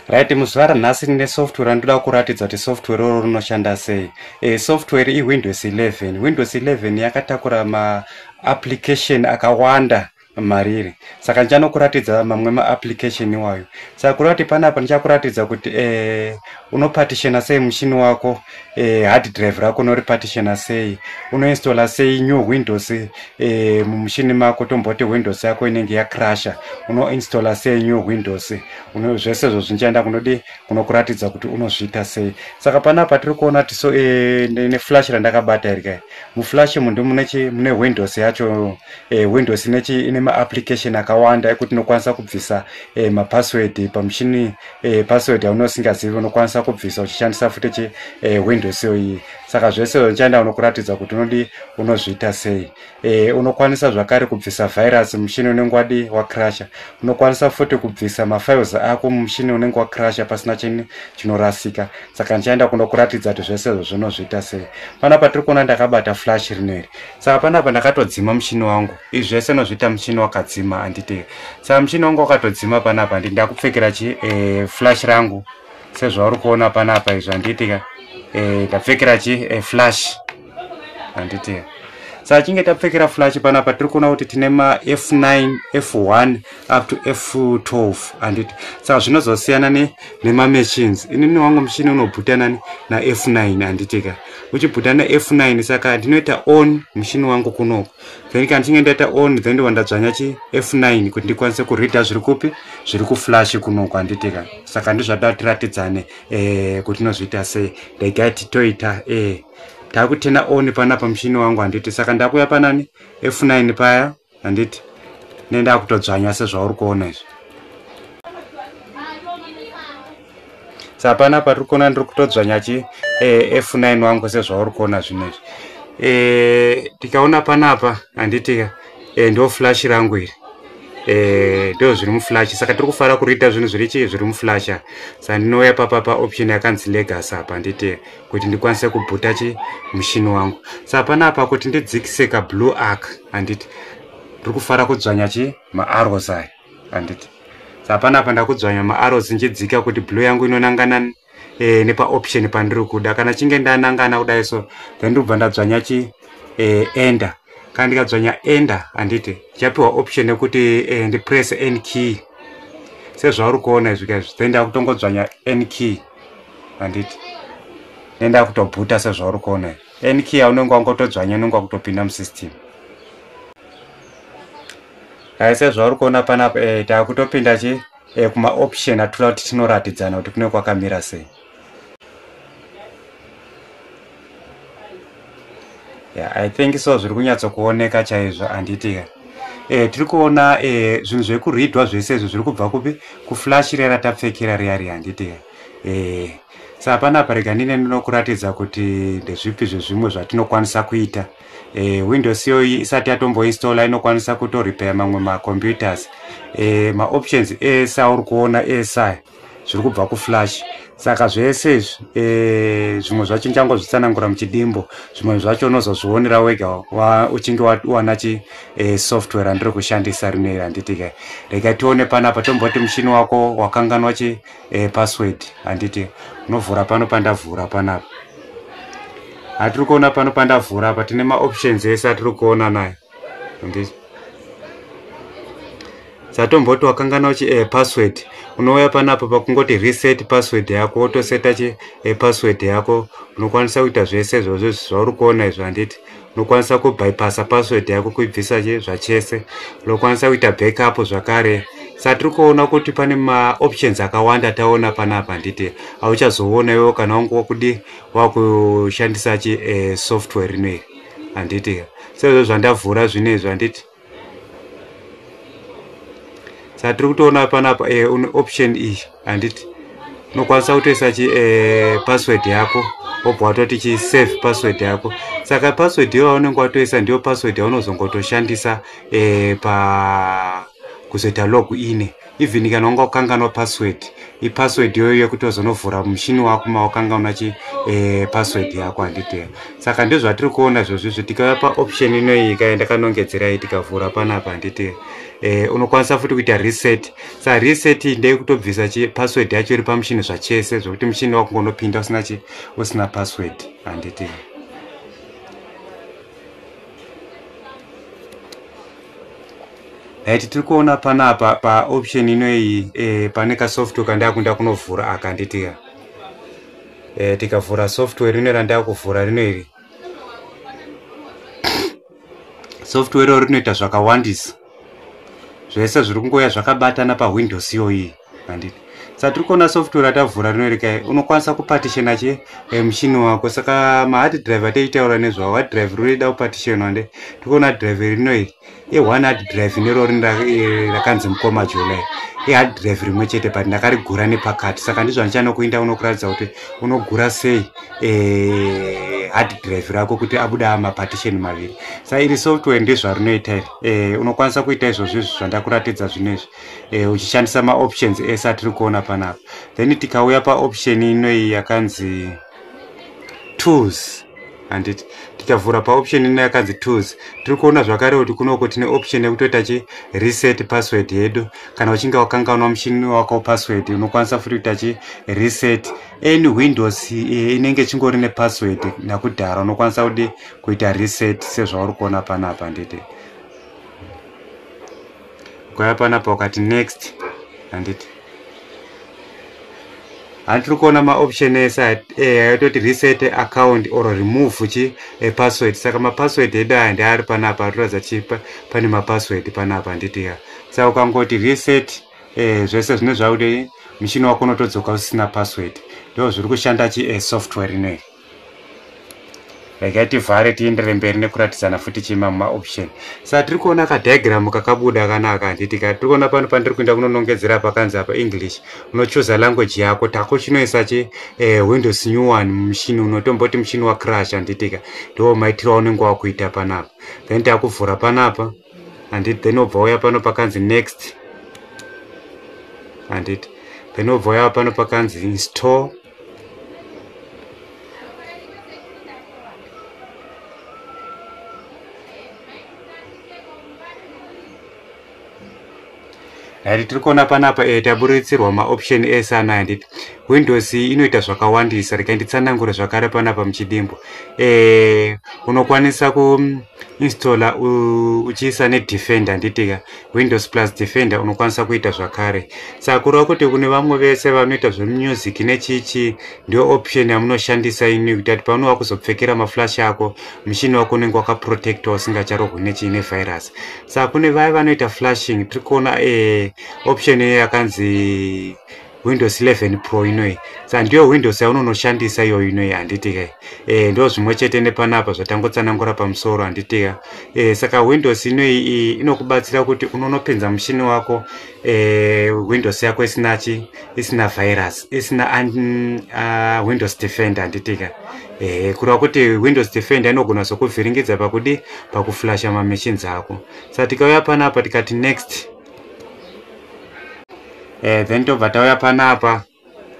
right muzuva ranhasi ndine software randinoda kuratidza kuti software roro rinoshanda sei e, software iwindows 11 windows 11 yakatakura maapplication akawanda mariri saka ndichanokuratidza mamwe maapplication iwayo saka kureva kuti panapa ndichakuratidza kuti e, unopartitiona sei mushini wako eh, hard drive rako unoripartitiona sei unoinstalla sei new windows eh, mumushini mako tomboti windows yako inenge yacrasha unoinstalla sei new windows uno, zvese zvo zvinchaenda kunodi kunokuratidza kuti unozviita sei saka panapa tiri kuona kuti so eh, neflash randakabata iri kai muflash mundu mune windows yacho eh, windows inechi ine maapplication akawanda ekuti inokwanisa kubvisa eh, mapassword pamushini eh, password yaunenge usingazivi unokwanisa kubvisa uchishandisa futi che eh, windows yo iyi saka zvese unochaenda unokuratidza kuti unodi unozviita sei eh, unokwanisa zvakare kubvisa virus mushini unenge wadi wacrasha unokwanisa futi kubvisa mafiles ako mushini unenge wacrasha pasina chini chinorasika saka ndichaenda kunokuratidza kuti zvese izvo zvinozviita sei panapa tiri kuona ndakabata flash rineri saka panapa ndakatodzima mushini wangu Izvi zvese unozviita muchini wakadzima handiti saka muchini wangu wakatodzima panapa handiti ndakupfekera chi e, flash rangu sezvauri kuona panapa izvi handiti ka e, ndapfekera chi e, flash handiti ka saka chinge tapfekera flash panapa tiri kuona kuti tine ma f9 f1 up to f12 handiti saka zvinozosiyana ne nemamachines inini wangu muchini unobhutanani na f9 handiti ka uchibhutana f9 saka ndinoita on muchini wangu kunoku then kana ndichinge ndaita on then ndiva ndadzvanya chi f9 kuti ndikwanise kureader zviri kupi zviri kuflash kuno kwanditi ka saka ndizvada tiratidzane eh, kuti tinozviita sei regai titoita eh, takutena on pana pamushini wangu handiti saka ndakuya panani f9 paya handiti nendakutodzvanya sezvauri kuona izvi sa hapana patiri kuona ndiri kutodzvanya chi eh, f9 wangu sezvauri kuona zvinhu izvi eh, tikaona panapa handitika eh, ndo flash rangu iri eh, ndo zviri muflash saka tiri kufara kuriita zvinhu zviri chii zviri muflasha sa ndinouya papa pa option yakanzi legas apa handitika kuti ndikwanise kubhuta chi mushini wangu sa hapana apa kuti ndidzikise kablue ark handiti ndiri kufara kudzvanya chi maarrows aya handiti sa hapana apa ndakudzvanya maaro dzinjidzika kuti blue yangu inonangana e, nepaoption pandiri kuda kana chinge ndanangana kudai so then ndobva ndadzvanya chi e, enda kana ndikadzvanya enda handiti chapiwa option yekuti e, ndipress n key sezvauri kuona izvi kaizvi then ndakutongodzvanya n key handiti then ndakutobhuta sezvauri kuona izvi nq yaunenge wangotodzvanya unenge wakutopinda musystem Hai sezvauri kuona panapa eh, takutopinda chi eh, kuma option atula kuti tinoratidzana kuti kune kwakamira sei. Yeah, I think so zviri kunyatso kuoneka chaizvo handiti ka. Eh, tiri kuona eh, zvinhu zviri kuridwa zvese izvi zviri kubva kupi kuflash riya ratapfekera riya riya handiti ka. Eh, sa panapa rega ndine ndinokuratidza kuti ndezvipi zvezvimwe zvatinokwanisa kuita. e, windows iyoyi isati yatomboinstalla inokwanisa kutorepair mamwe macomputers e, maoptions ese auri kuona esa zviri kubva kuflash saka zvese izvi e, zvimwe zvacho ndichangozvitsanangura muchidimbo zvimwe zvacho unozozvionera wega wa, uchinge wawana chi e, software randiri kushandisa rineri handiti kai rega tione panapa tomboti mushini wako wakanganwa chi e, password handiti unovhura pano pandavhura panapa atiri kuona pano pandavhura apa tine maoptions ese atiri kuona nayo handiti satomboti wakangana uchi e, password unouya panapa pakungoti reset password yako wotoseta chi e, password yako unokwanisa kuita zvese izvozvo zvauri kuona izvo handiti unokwanisa kubypassa password yako kuibvisa zvachese unokwanisa kuita backup zvakare satiri kuona kuti pane maoptions akawanda taona panapa handiti hauchazoona iwo kana wangu wakudi wakushandisa chi eh, software rino iri handiti sezvo zvandavhura zvino izvi handiti satiri kutoona panapa eh, une option iyi handiti unokwanisa kutoisa chi eh, password yako obva watoti chi save password yako saka password iyo yaunenge watoisa ndiyo password yaunozongotoshandisa eh, pa kuzoita log ine even kana unga ukanganwa password ipassword yoyo yekuti wazonovhura mushini wako mawakanganwa chi eh, password yako handiteya saka ndozvatiri kuona zvozvizvi tikauya paoption inoiyi kaye ndakanongedzerai tikavhura panapa handiteya eh, unokwanisa futi kuita reset sa reset ndeye kutobvisa chi password yacho iri pamushini zvachese zvokuti mushini wako ngonopinda usina chi usina password handiteya right tiri kuona panapa paoption inoyi eh, pane kasoftware kandakuda kunovhura aka nditika eh, tikavhura software rino randaa kuvhura rino iri software iroro rinoita zvakawandisa zvese zviri kungoya zvakabatana pawindows iyoyi handiti satiri kuona software atavhura rino rika unokwanisa kupatishena che eh, mushini wako saka mahard drive ataitaura nezvawo hard drive rinoida kupatishenwa nde tiri kuona drive rino iri ione hard drive nero rin eh, rakanzi mukoma jolai ihard drive rimwe chete but ndakarigura nepakati saka ndizvo andichanokuinda unokuratidza kuti unogura sei eh, hard drive rako kuti abuda mapartition maviri sa iri software ndezvarinoita iri unokwanisa kuita izvozvo izvi zvandakuratidza zvino izvi eh, uchishandisa maoptions ese atiri kuona panapa then tikauya paoption inoyi yakanzi tools handiti tikavhura paoption ino yakanzi tools tiri kuona zvakare kuti kunoko tine option yekutoita chi reset password yedu kana uchinge wakanganwa muchini wako password unokwanisa futi kuita chi reset any windows eh, inenge chingori nepassword nakudhara unokwanisa kudi kuita reset sezvauri kuona panapa handiti ukauya panapa ukati next handiti hanti tiri kuona maoption ese ayatoti eh, reset account or remove chi epassword saka mapassword edu aya ndi ari panapa atoratidza ti pane mapassword panapa handiti ya saka ukangoti reset eh, zvese zvine zvakude muchini wako unotodzoka usina password ndo zviri kushanda chi eh, software inoyi regai tivhare tiendere mberi nekuratidzana futi chima mumaoption sa tiri kuona kadiagram kakabuda kanaka handiti ka tiri kuona pano pandiri kuenda kunonongedzera pakanzi apa english unochuza language yako tako chinoisa chi eh, windows new one mushini unotomboti mushini wacrash handitika ndiwo maitiro aunenge wakuita panapa then takuvhura panapa handiti then obva uya pano pakanzi next handiti then obva uya pano pakanzi install handiti tiri kuona panapa e, taburitsirwa maoption ese ana handiti windows inoita zvakawandisa rikainditsanangure zvakare panapa muchidimbo e, unokwanisa ku installer uchiisa nedefender nditika windows plus defender unokwanisa kuita zvakare saka kureva kuti kune vamwe vese vanoita zvemusic nechichi ndiyo option yamunoshandisa ini kuita kuti paunova kuzopfekera maflash ako mushini wako unenge wakaprotectwa usingacharohwi nechii nevirus saka kune vaya vanoita flashing tiri kuona eh, option yakanzi windows 11 pro inoyi sa ndiyo windows yaunonoshandisa iyoyo inoyi handitika e, eh, ndo zvimwe chete nepanapa zvatangotsanangura pamusoro handitika e, eh, saka windows inoyi inokubatsira kuti unonopinza mushini wako e, windows yako isina chi isina virus isina un, uh, windows defender handitika e, kureva kuti windows defender inogona zokuvhiringidza pakudi pakuflasha mamachines ako sa tikauya panapa tikati next e, eh, then tobva tauya panapa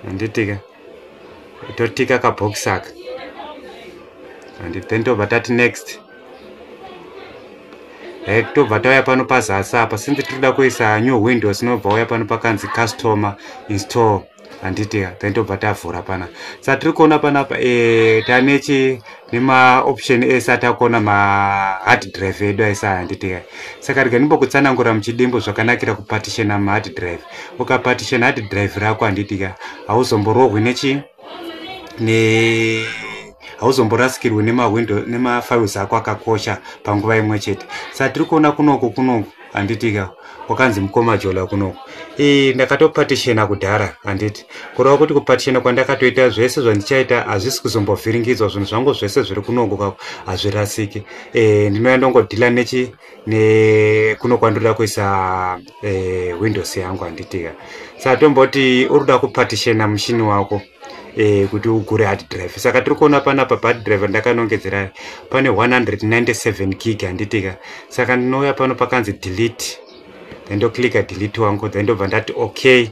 handitika totika kabox aka and then tobva tati next eh, tobva tauya pano pazasi apa since tiri kuda kuisa new windows tinobva uya pano pakanzi customer install handiti taitobva tavhura pana sa tiri kuona panapa e, eh, tanechi nemaoption ese atakuona mahard drive edu aisa handiti ka saka rega ndimbokutsanangura muchidimbo zvakanakira kupatishena mahard drive ukapatishena hard drive rako handiti ka hauzomborohwi nechi ne hauzomborasikirwi nemawindo nemafiles ako akakosha panguva imwe chete sa tiri kuona kunoku kunoku handitika kwakanzi mukoma jola kunoko ii ndakatopatishena kudhara handiti kureva kuti kupatishena kwandakatoita zvese zvandichaita hazvisi kuzombovhiringidzwa zvinhu zvangu zvese zviri kunoko kako hazvirasiki e, ndinouya ndongodhila nechi nekuno kwandoda kuisa e, windows yangu handitika satomboti uri kuda kupatishena mushini wako eh, kuti ugure hard drive saka tiri kuona panapa pahard drive ndakanongedzera pane 197 gig handitika saka ndinouya pano pakanzi delete then ndoclicka delete wangu then ndobva ndati okay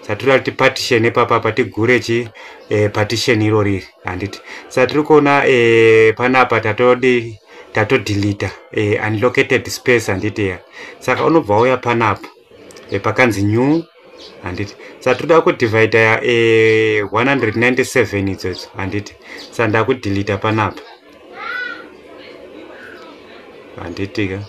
satiri kuti partition epapa pa tigure chi eh, partition iro riri handiti sa tiri kuona eh, panapa tatodi tatodelita eh, unlocated space handiti ya saka unobva uya panapa e, pakanzi new handiti sa toda kudivhaida ya e, eh, 197 idzodzo handiti sa ndakudhilita panapa handiti ka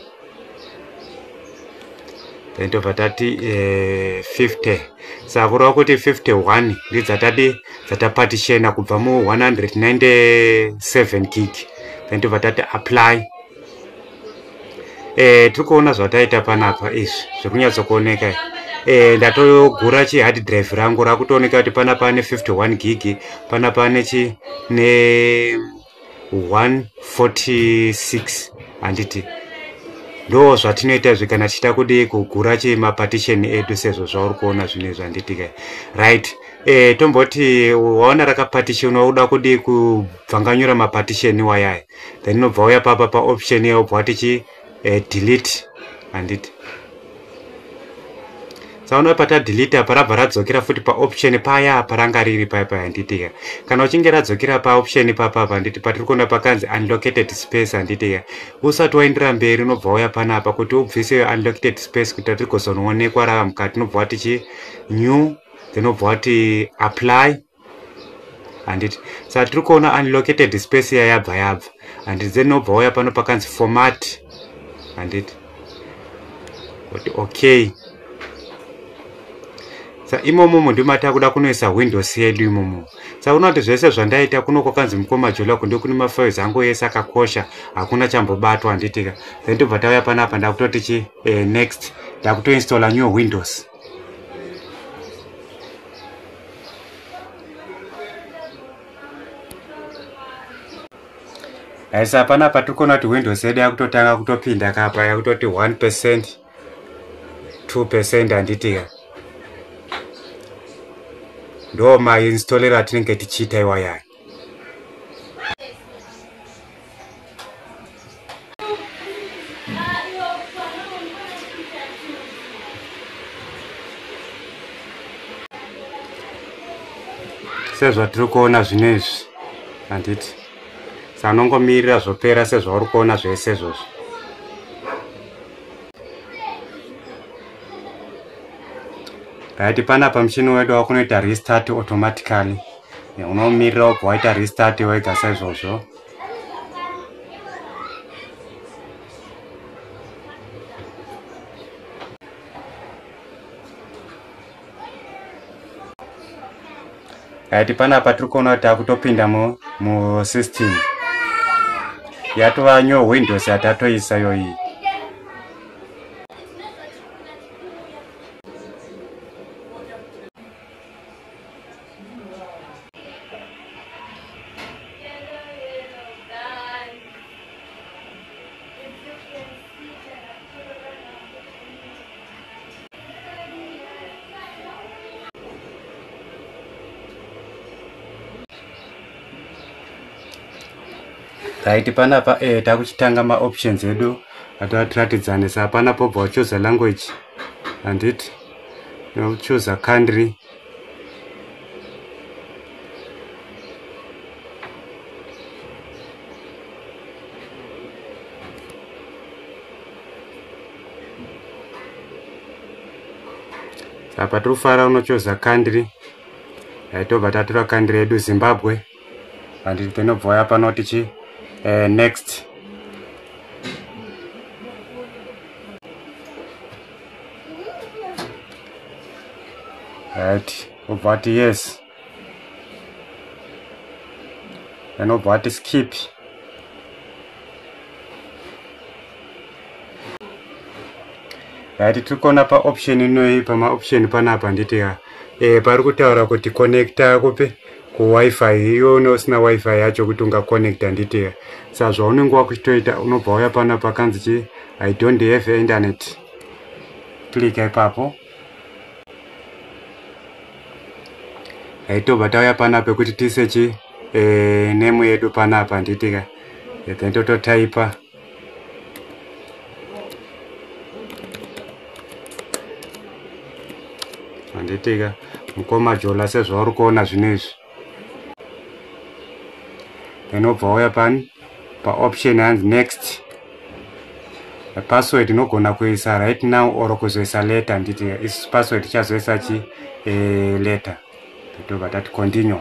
then tobva tati e, eh, 50 sa kureva kuti 51 ndidzatadi dzatapatishena kubva mu 197 gig then tobva tati apply e, tiri kuona zvataita panapa izvi zviri kunyatsokuoneka izvi eh, ndatogura chihard drive rangu rakutooneka kuti pana pane 51 gig pana pane chi ne 146 handiti ndo zvatinoita zve kana tichita kudii kugura chemapartition edu sezvo zvauri kuona zvinhu izvi handiti ka right eh, tomboti waona rakapartition wauda kudii kubvanganyura mapartition wayaya then unobva uya papa paoption iya obva wati chi eh, delete handiti saona pata delete apa rabva radzokera futi paoption paya apa ranga riri paya paya handitika kana uchinge radzokera paoption papa apa handiti patiri kuona pakanzi unlocated space handitika usati waindira mberi unobva uya pana apa kuti ubvise yo unlocated space kuita tiri kuzonoonekwa rava mukati unobva wati chi new then obva wati apply handiti saka tiri kuona unlocated space iya yabva yabva handiti then obva wauya pano pakanzi format handiti kuti okay sa imomo mundu mata kuda kunoisa windows yedu imomo sa unoti zvese zvandaita kuno kwakanzi mukoma jola kunde kune mafiles angu yese akakosha hakuna chambobatwa handitika then tobva tauya panapa ndakutotichi eh, next ndakutoinstalla new windows aisa hapana patikona kuti windows yedu yakutotanga kutopinda kapa yakutoti 1 percent 2 percent handitika ndo mainstallero atinenge tichiita iwayani sezvatiri kuona zvino izvi handiti sanongomirira zvopera sezvauri kuona zvese izvozvo raiti panapa muchini wedu wakunoita restart automatically unomirira ubva waita restart wega saizvozvo right panapa tiri kuona kuti takutopinda musystem yatova new windows yatatoisa yoiyi right panapa eh, takuchitanga maoptions edu atoatiratidzanisa hapana pobva wachoza language handiti ndinochooser country apa tiri kufara unochooser country yaitobva tatora country yedu zimbabwe and tinobva waya pano tichi uh, next right obva ati yes then obva ati skip right tikona pa option inoyi pama option panapa nditi ya eh, pari kutaura kuti connecta kupi ku wifi iwe une usina wifi yacho kuti unga connect handiti sa zvaunenge wakuchitoita unobva wauya pano pakanzi chi i don't have internet klika ipapo aitobva tauya pana pekuti tisechi e, eh, nemu yedu panapa handitika then tototaipa handitika mukoma jola sezvauri kuona zvino izvi inobva wauya pani paoption hanzi next password inogona kuisa right now or kuzoisa letter handiti is password chazoisa chi eh, letter tobva tati continue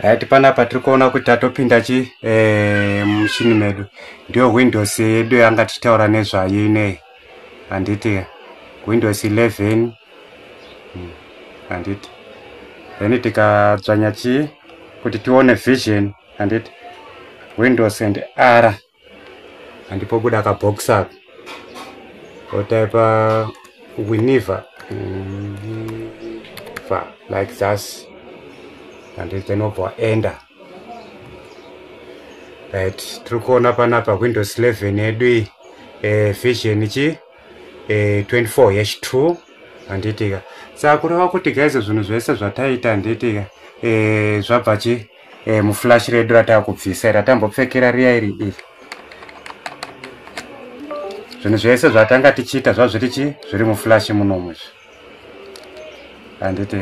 right panapa tiri kuona kuti tatopinda chi eh, muchini medu ndiyo windows yedu yanga tichitaura nezvayo inei handiti windows 11 hmm, handiti then tikadzvanya chii kuti tione vision handiti windows and ara and pobuda ka box up otaipa winiva winiva like thus and then obva enda right tiri kuona panapa windows 11 yedu iyi eh, vision chi eh, 24 yesh 2 handitika saka kureva kuti gaizo zvinhu zvese zvataita handitika eh, zvabva chii eh, muflash redu ratakubvisa iri ratambopfekera riya iri iri zvinhu zvese zvatanga tichiita zvazviri chi zviri muflash munomu izvi handiti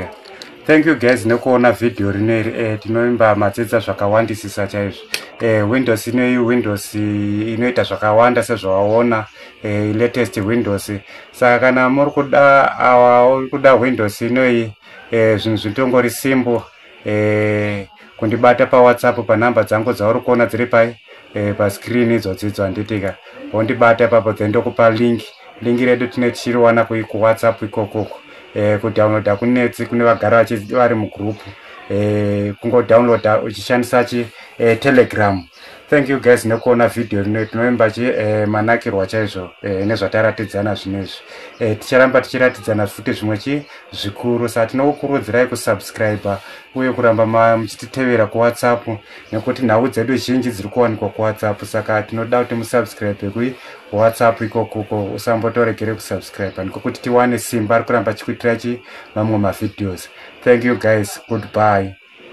thank you guys nekuona vhidhiyo rino iri e eh, tinovimba madzidza zvakawandisisa chaizvo e windows inoyi windows inoita zvakawanda sezvawaona e latest windows saka kana muri kuda awa uri kuda windows inoyi e zvinhu zvitongori simbo eh, kundibata pawhatsapp panumber dzangu dzauri kuona dziri pai eh, pascreen idzodzidzo handitika wondibata ipapo then ndokupa link link redu tine tichiriwana kuwhatsapp ikokoko eh, kudownloada kunetsi kune vagara vari mugroup eh, kungodownloada uchishandisa chi eh, telegram thank you guys nekuona vhidhiyo rino tinoimba chi eh, manakirwa chaizvo eh, nezvataratidzana zvino izvi eh, ticharamba tichiratidzana futi zvimwe chi zvikuru sa tinokukurudzirai kusubscribe uye kuramba muchititevera kuwhatsapp nekuti nhau dzedu zhinji dziri kuwanikwa kuwhatsapp saka tinoda kuti musubscribe kui whatsapp ikokuko usambotoregere kusubscribe nekuti tiwane simba rikuramba chikuitira chi mamwe mavhideos thank you guys goodbye